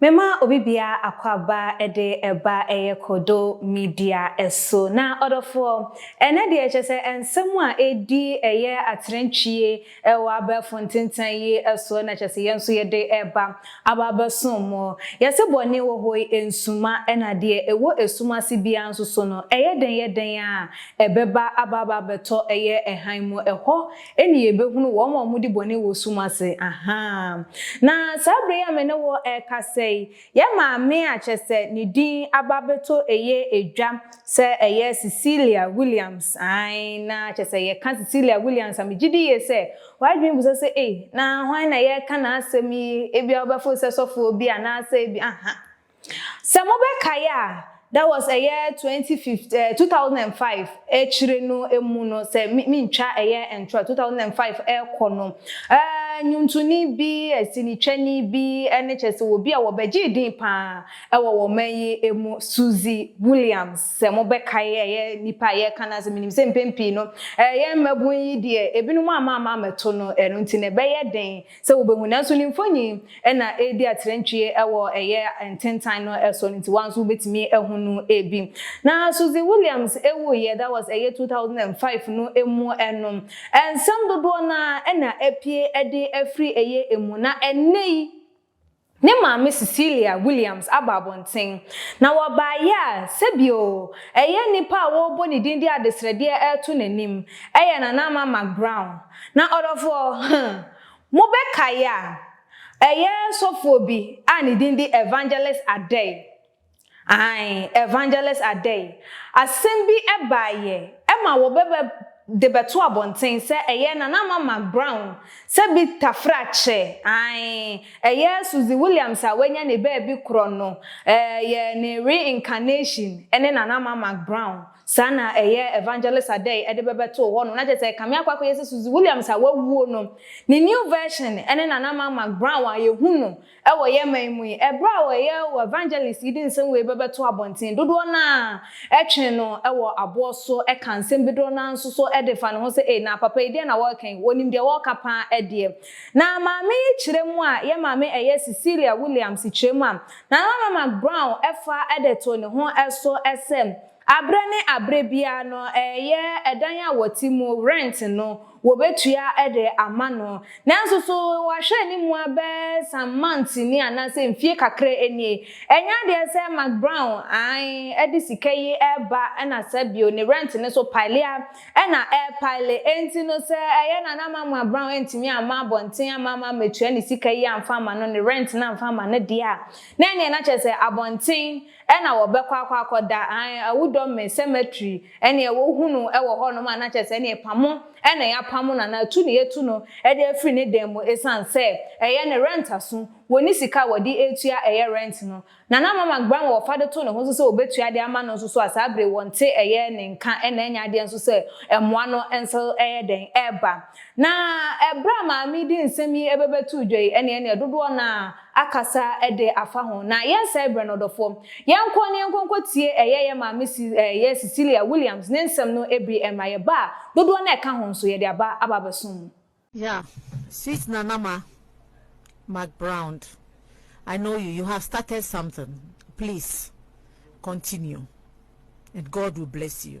Mema obi bia akɔaba de ɛba ɛyɛ kodo media so na ɔdɔfoɔ ɛnɛ deɛ kyɛ sɛ ɛnsɛm a ɛdi ɛyɛ atrɛntwie ɛwɔ abɛɛfo ntentan yi soɔ na kyɛ sɛ yɛn nso yɛde ɛba aba abɛsom mo yɛse bɔne wɔ hɔ yi ɛnsuma ɛna deɛ ɛwɔ ɛsum ase biara nso so no ɛyɛ dɛn yɛ dɛn a ɛbɛba aba aba abɛtɔ ɛyɛ ɛhan mu ɛhɔ Ɛnne yɛbɛhunu wɔn a wɔdi bɔne wɔ sum ase. Ahaa. Na saa berɛ yi a me ne wo rekasa yi, yɛn maame a kyerɛ sɛ ne din aba abɛtɔ ɛyɛ edwa sɛ ɛyɛ Cecilia Williams, ae, na kyerɛ sɛ yɛka Cecilia Williams a, megye di yie sɛ w'adwene bisa sɛ, Ei, na hwan na yɛreka n'asɛm yi? Ebia wobɛfo sɛ sɔfoɔ bi anaasɛ bi, ahaa. Sɛ mobɛkae a, that was ɛyɛ twenty fifteen ɛɛ eh, two thousand and five akyire no mu no, sɛ mentwa ɛyɛ ntorɔ two thousand and five ɛrekɔ no, ɛɛ eh, nwontoni bi, asinitwani bi, ɛne kyɛ sɛ obi a wɔbɛgyee din paa ɛwɔ wɔn man yi mu, Susie Williams. Sɛ mobɛkae ɛyɛ nipa a yɛreka no ase, menim sɛ mpɛn pii no ɛyɛ mmabun yi deɛ ebinom ama ama amɛto no, ɛno nti na ɛbɛyɛ den Sɛ wobehu, nanso ne mfonyi na edi atrantwie wɔ ɛyɛ ntentan no so no nti woa nso wobetumi ahu no ebi. Na Suzy Williams wuiɛ, that was ɛyɛ two thousand and five no mu no, nsɛm dodoɔ no ara na apue de afiri ɛyɛ mu, na ɛnnɛ yi, Ne maame Cecilia Williams aba abɔnten, na wɔbaeɛ a, sɛbi oo, ɛyɛ nipa a wɔrebɔ ne din de adesrɛdeɛ reto n'anim, ɛyɛ Nana Ama McBrown. Na ɔdɔfoɔ, huh, mobɛkae a, ɛyɛ sɔfoɔ bi a ne din de Evangelist Adei. Ae, Evangelist Adei, asɛm bi baeɛ ma wɔbɛbɛ de bɛto abɔnten sɛ ɛyɛ Nana Ama McBrown sɛ bi tafra kyɛ, ae, ɛyɛ Susie Williams a wanya ne baabi korɔ no, ɛyɛ ne reincarnation ne Nana Ama McBrown, saa na ɛyɛ Evangelist Adei de bɛbɛtoo hɔ nom, na kyerɛ sɛ kame akɔ akɔyɛ sɛ Susie Williams a wawuo no, ne new version ne Nana Ama McBrown a yɛhu no Wɔ yɛn man mu yi, bere a wɔyɛ wɔ evangelist yi de nsɛm wei bɛbɛto abɔnten, dodoɔ no ara twe no wɔ aboɔ so ka nsɛm bi, dodoɔ no ara nso so de fa ne ho sɛ, Ei, na papa yi, deɛn na wɔreka yi? Wɔnim deɛ wɔreka pa ara deɛ. Na maame yi kyerɛ mu a, yɛn maame ɛyɛ Cecilia Williams kyerɛ mu a, Nana Norman Brown fa de too ne ho so sɛ, Aberɛ ne aberɛ biara no ɛyɛ ɛdan a wɔte mu, rent, no wɔbɛtua de ama no. Nanso so wahwɛ anim ara bɛyɛ some months ni anaasɛ mfie kakra nie, ɛnyɛ adeɛ sɛ McBrown, ae, de sika yi reba na sa bio, ne rent no so pile ara na ɛrepile. Enti no sɛ ɛyɛ no a na ama McBrown antumi amma abɔnten amma ama ammɛtua ne sika yi amfa amma no, ne rent no amfa amma no deɛ a, na ɛneɛ na kyerɛ sɛ abɔnten Ɛna wɔbɛkɔ akɔ akɔda an awudɔ me cemetery ɛneɛ wohu no wɔ hɔ nom a na kyɛsɛ ɛneɛ pamo ɛna yapamo no anaa tu na yɛtu no de afiri ne dan mu ɛsan sɛ ɛyɛ ne rent aso wɔni sika a wɔde ɛtua ɛyɛ rent no na na mama gbra ma wɔfa de to ne ho nso sɛ wɔbɛtua de ama no nso so a saa bere wɔnte ɛyɛ ne nka ɛna ɛnyɛ adeɛ nso sɛ ɛmoa no nso ɛyɛ dɛn ɛba na ɛberɛ a maame di nsɛm yi ɛbɛbɛtu dwa yi ɛneɛ ɛneɛ dodoɔ no a akasa de afa ho. Na yɛnsɛe berɛ no, ɔdɔfoɔ. Yɛnkɔ na yɛnkɔ nkɔtie ɛyɛ yɛn maame Si, ɛyɛ Cecilia Williams ne nsɛm no bi ɛmma yɛn ba a dodoɔ no a ɛka ho nso, yɛde aba aba abɛsom mo. Yeah sweet nana ma McBrowned I know you you have started something please continue and God will bless you.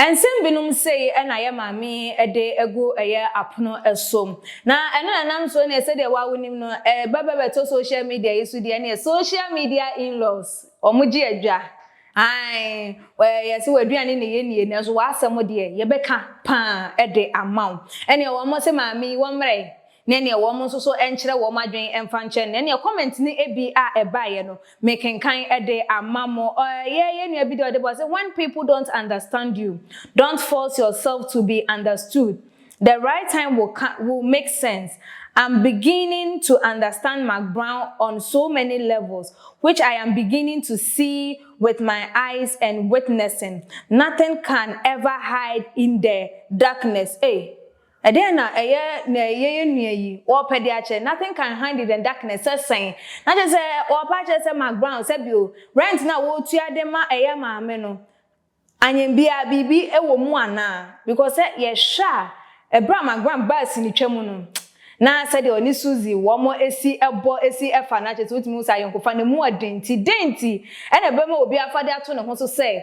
Nsɛm binom sei na yɛ maame de agu yɛ apono so. Na ɛno na ɛnam so neɛ sɛdeɛ wo a wonim no, ba bɛ bɛtɔ social media yi so deɛ neɛ social media in-laws, wɔn gye adwa. Ae, yɛse w'aduane na yɛnnie nanso w'asɛm deɛ yɛbɛka paa de ama wo. Ɛneɛ wɔn se maame yi wɔmmrɛ ne neɛ wɔn nso so nkyerɛ wɔn adwen mfa nkyɛ no, ɛneɛ comment no bi a ɛbaeɛ no me kenkan de ama mo, ɔyɛ yɛn nua bi deɛ ɔde ba ɔse when people don't understand you, don't force yourself to be understood, the right time will co will make sense, I'm beginning to understand McBrown on so many levels which I am beginning to see with my eyes and witnessing, nothing can ever hide in the darkness, ei! Ɛdeɛn na ɛyɛ na ɛyɛ yɛn nua yi ɔɔpɛ de akyɛ nothing can hind it and darkness sɛ sɛn na kyerɛ sɛ ɔɔpɛ akyerɛ sɛ Mark Brown sɛ bio rent no a wɔɔtua de ma ɛyɛ maame no anyɛ biaa biribi wɔ mu anaa because sɛ yɛhwɛ a ɛberɛ a Mark Brown baa sinitwa mu no na sɛdeɛ ɔne Suzy wɔn si bɔ si fa no akyerɛ sɛ wotumi hu sɛ ayɔnkofa no mu ɔden nti dɛn nti na ɛbɛma obi afa de ato ne ho so sɛ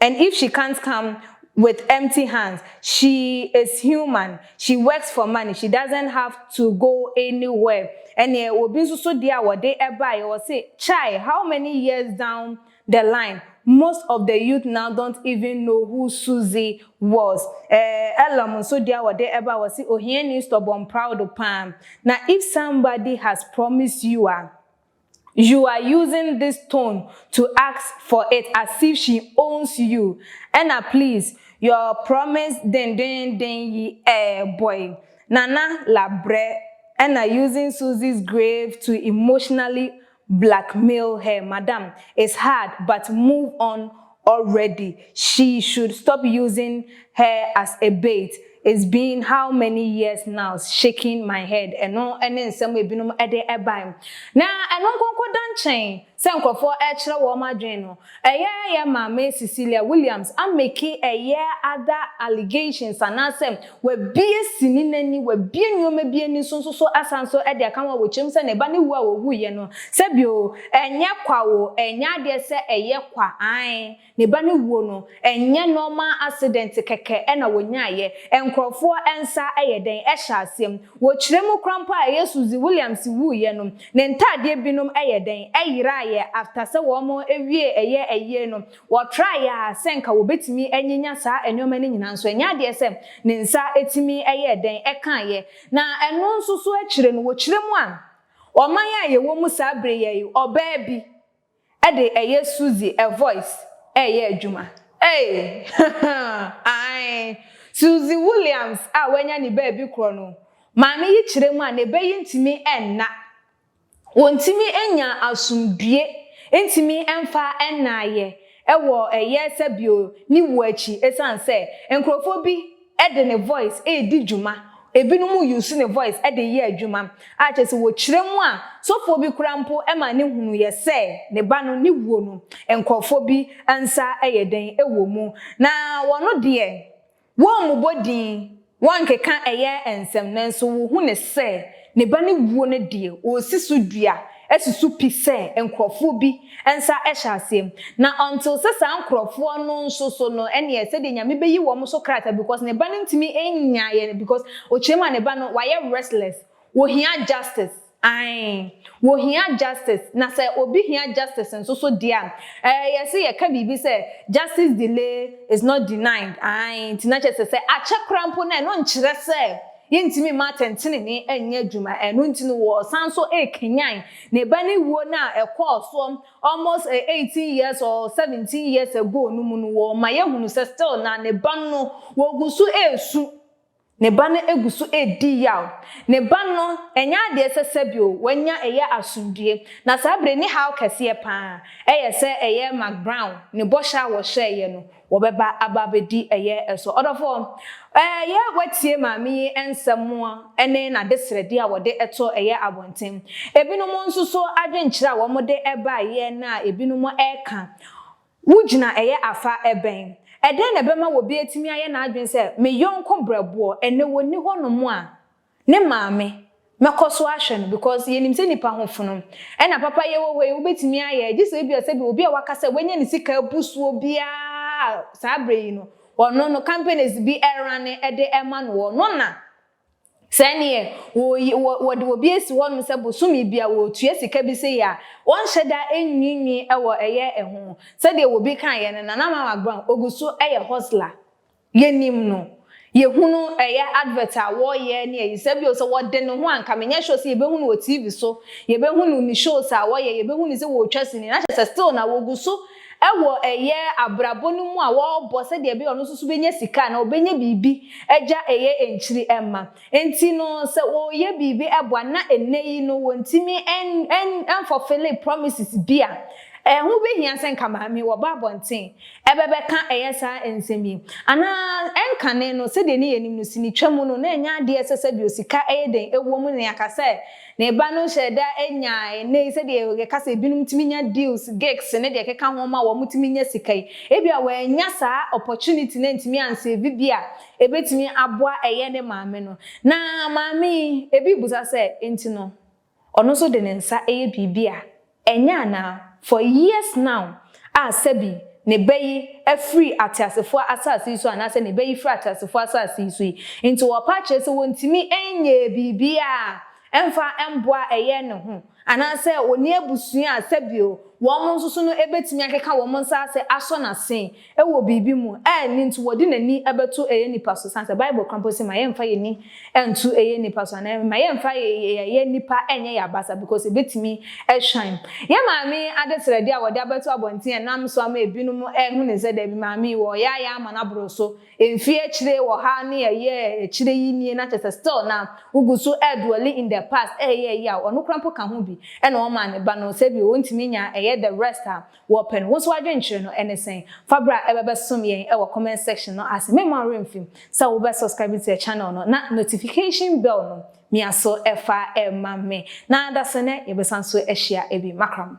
And if she can't come with empty hands she is human she works for money she doesn't have to go anywhere ɛneɛ obi nso so deɛ a wɔde baeɛ wɔse chai how many years down the line most of the youth now don't even know who Suzy was eh Elam nso deɛ a wɔde baeɛ wɔse ohiani stubborn proud paa na if somebody has promised you a You are using this tone to ask for it as if she owns you ɛna please your promise dendennden yi eh boy Nana labrɛ ɛna using Suzy's grave to emotionally blackmail her madam it's hard but move on already she should stop using her as a bait it's been how many years now shaking my head ɛno ne nsɛm ebinom de bae na ɛno nkonko da nkyɛn sɛ nkurɔfoɔ ɛkyerɛ wɔn adwene no ɛyɛ yɛ maame Cecilia Williams ameki ɛyɛ other allegations anaasɛ Wabue sini no ani, wabue nneɛma bi ani nso, nso so asan nso de aka ho a wɔkyerɛ mu sɛ ne ba no wu a ɔwuiɛ no, sɛ bio, ɛnyɛ kwa o, ɛnyɛ adeɛ sɛ ɛyɛ kwa, aane, ne ba no wuo no, ɛnyɛ normal accident kɛkɛ na wɔnyaaeɛ, nkorɔfoɔ nsa yɛ dɛn hyɛ aseɛ mu, wɔkyerɛ mu koraa mpo a ɛyɛ Susie Williams wuiɛ no, ne ntaadeɛ binom yɛ dɛn, yeraaeɛ after sɛ wɔn wiee ɛyɛ ayie no, Wɔtraa yɛ a sɛ nka wɔbɛtumi anyanya saa nnoɔma no nyinaa nso, ɛnyɛ adeɛ sɛ ne nsa tumi yɛɛ dɛn kaeɛ. Na ɛno nso so akyire no, wɔkyerɛ mu a, ɔman a yɛwɔ mu saa berɛ yi ara yi, ɔbaa bi de ɛyɛ Suzy a voice reyɛ adwuma. Ei! Ae! Suzy Williams a wanya ne baabi korɔ no, maame yi kyerɛ mu a, ne bɛ yi ntumi nna. Wɔntumi nnya asomdwie ntumi mfa nnaeɛ wɔ ɛyɛɛ sɛ bio ne wuo akyi ɛsiane sɛ nkorɔfoɔ bi de ne voice redi dwuma ebinom use ne voice de yɛ adwuma a kyerɛ sɛ wɔkyerɛ mu a sɔfoɔ bi koraa mpo ma ne hunuiɛ sɛ ne ba no ne wuo no nkorɔfoɔ bi nsa yɛ dɛn wɔ mu na wɔn deɛ Wɔmmobɔ din, wɔnkeka ɛyɛ nsɛm, nanso wohu no sɛ ne ba no wuo no deɛ, wɔresi so dua, asusu pi sɛ nkurɔfoɔ bi nsa hyɛ aseɛ. Na ɔntee sɛ saa nkurɔfoɔ no nso so no, ɛnneɛ sɛdeɛ Nyame bɛyi wɔn so krataa because ne ba no ntumi nnyaeɛ no because ɔkyerɛm a ne ba no, wayɛ restless, wɔhia justice. Ae, wɔhia justice, na sɛ obi hia justice nso so deɛ a, eh, yɛse yɛka biribi sɛ, justice delay is not denied, ae, nti na kyerɛ sɛ, sɛ akyɛ koraa mpo no, ɛno nkyerɛ sɛ yɛntumi mma atɛntenenee nyɛ adwuma, ɛno nti no wɔsan nso rekanyan ne ba no wuo no a ɛkɔɔ soɔ almost eh, eighteen years or seventeen years ago no mu no, wɔma yɛhunu sɛ still na ne ba no, wɔgu so resu. Ne ba no gu so redi yaw. Ne ba no, ɛnyɛ ade a ɛsɛ sɛ bio, wanya ɛyɛ asomdwoe. Na saa bere ne haw kɛseɛ pa ara, ɛyɛ sɛ ɛyɛ McBrown ne bɔhyɛ a wɔhyɛeɛ no, wɔbɛba aba abɛdi ɛyɛ so. Ɔdɔfoɔ, ɛyɛ a woatie maame yi nsɛm ne n'adesrɛdeɛ a wɔde to ɛyɛ abɔnten. Ebinom nso so adwenkyerɛ a wɔde baeɛ no a ebinom reka, Wugyina ɛyɛ afã bɛn? Ɛdɛn na ɛbɛma obi atumi ayɛ n'adwene sɛ me yɔnko brɛboɔ, ɛnnɛ ɔnni hɔnom a, ne maame, mɛkɔ so ahwɛ no because yɛnim sɛ nnipa ho fono. Ɛna papayɛ wɔ hɔ yi, wobɛtumi ayɛ, gye sɛ ebia sɛdeɛ obi a waka sɛ wanya ne sika abu soɔ biara saa berɛ yi no, ɔno no, companies bi rane de rema no, ɔno na. Sɛ neɛ wɔyi wɔ wɔde obi asi hɔ nom sɛ bosome bia wɔtua sika bi sei a, wɔnhyɛ da nwiinwii wɔ ɛyɛ ɛho. Sɛdeɛ wɔbi kaeɛ no, Nana Mama Brown ɔguso yɛ hustler. Yɛnim no. Yɛhunu ɛyɛ advert a wɔyɛ ne ayi. Sɛ bio sɛ wɔde ne ho a nka menyɛ sure sɛ yɛbɛhu no wɔ TV so. Yɛbɛhu no ne shows a wɔyɛ, yɛbɛhu no sɛ wɔtwa sini. Na kyerɛ sɛ still na wɔguso Wɔ ɛyɛ abrabɔ no mu a wɔbɔ sɛdeɛ ɛbɛyɛ ɔno nso so bɛnya sika anaa ɔbɛnya biribi agya ɛyɛ nkyiri mma nti no sɛ ɔreyɛ biribi boa na ɛnnɛ yi no wɔntumi nfɔfele promises bi a, ɛho bɛhia sɛ nka maame yi wɔba abɔnten ɛbɛbɛka ɛyɛ saa nsɛm yi anaa ɛnkane no sɛdeɛ ne yɛnim no sinitwa mu no na ɛnyɛ adeɛ ɛsɛ sɛ deɛ sika ɛyɛ dɛn ɛwɔ mu na yɛaka sɛ Ne ba no hyɛɛ da nya nnɛyi sɛdeɛ yɛka sɛ ebinom tumi nya deals, gigs ne deɛ ɛkeka ho ma wɔtumi nya sika yi. Ebia wannya saa opportunity no antumi ansave bi a ɛbɛtumi aboa ɛyɛ ne maame no. Na maame yi, ebi rebisa sɛ, enti no ɔno nso de ne nsa yɛ biribi a Ɛnyɛ anaa? For years now a sɛbi ne bɛ yi afiri ateasefoɔ asase yi so anaasɛ ne bɛ yi firi ateasefoɔ asase yi so yi nti wɔpa akyerɛ sɛ wɔntumi nyɛ biribiara mfa mboa ɛyɛ ne ho anaasɛ ɔnni abusua a sɛbio wɔn nso so no ɛbɛtumi akeka wɔn nsa ase asɔ n'ase wɔ biribi mu a ɛno nti wɔde n'ani bɛto ɛyɛ nipa so, sane sɛ Bible ka mpo sɛ ma yɛmfa yɛn ani nto ɛyɛ nipa so, anaa mma yɛmfa ɛyɛ nipa nyɛ yɛn abasa because ɛbɛtumi shine yɛn maame adesrɛdeɛ a wɔde abɛto abɔnten a ɛnam so ama ɛbinom ahunu sɛ daabi maame yi wɔ yaayaa ama no aboro so mfeɛ akyire wɔ ha ne ɛyɛ akyire yi nie na kyerɛ sɛ still na wogu so dwelling in the past ɛyɛ ɛyɛ a ɔno koraa mpo ka ho bi na ɔmaa ne ba no sɛbi ɔntumi nya ɛyɛ the rest a wɔpɛ no. Wo nso w'adwenkyerɛ no ne sɛn? Fa bra ɛbɛbɛsom yɛn wɔ comment section no ase. Meremma wo werɛ mfim sɛ wobɛ subscribe to the channel no na notification bell no mia so fa ma me. Na dasɛnɛ yɛbɛsan so ahyia bi. Makram.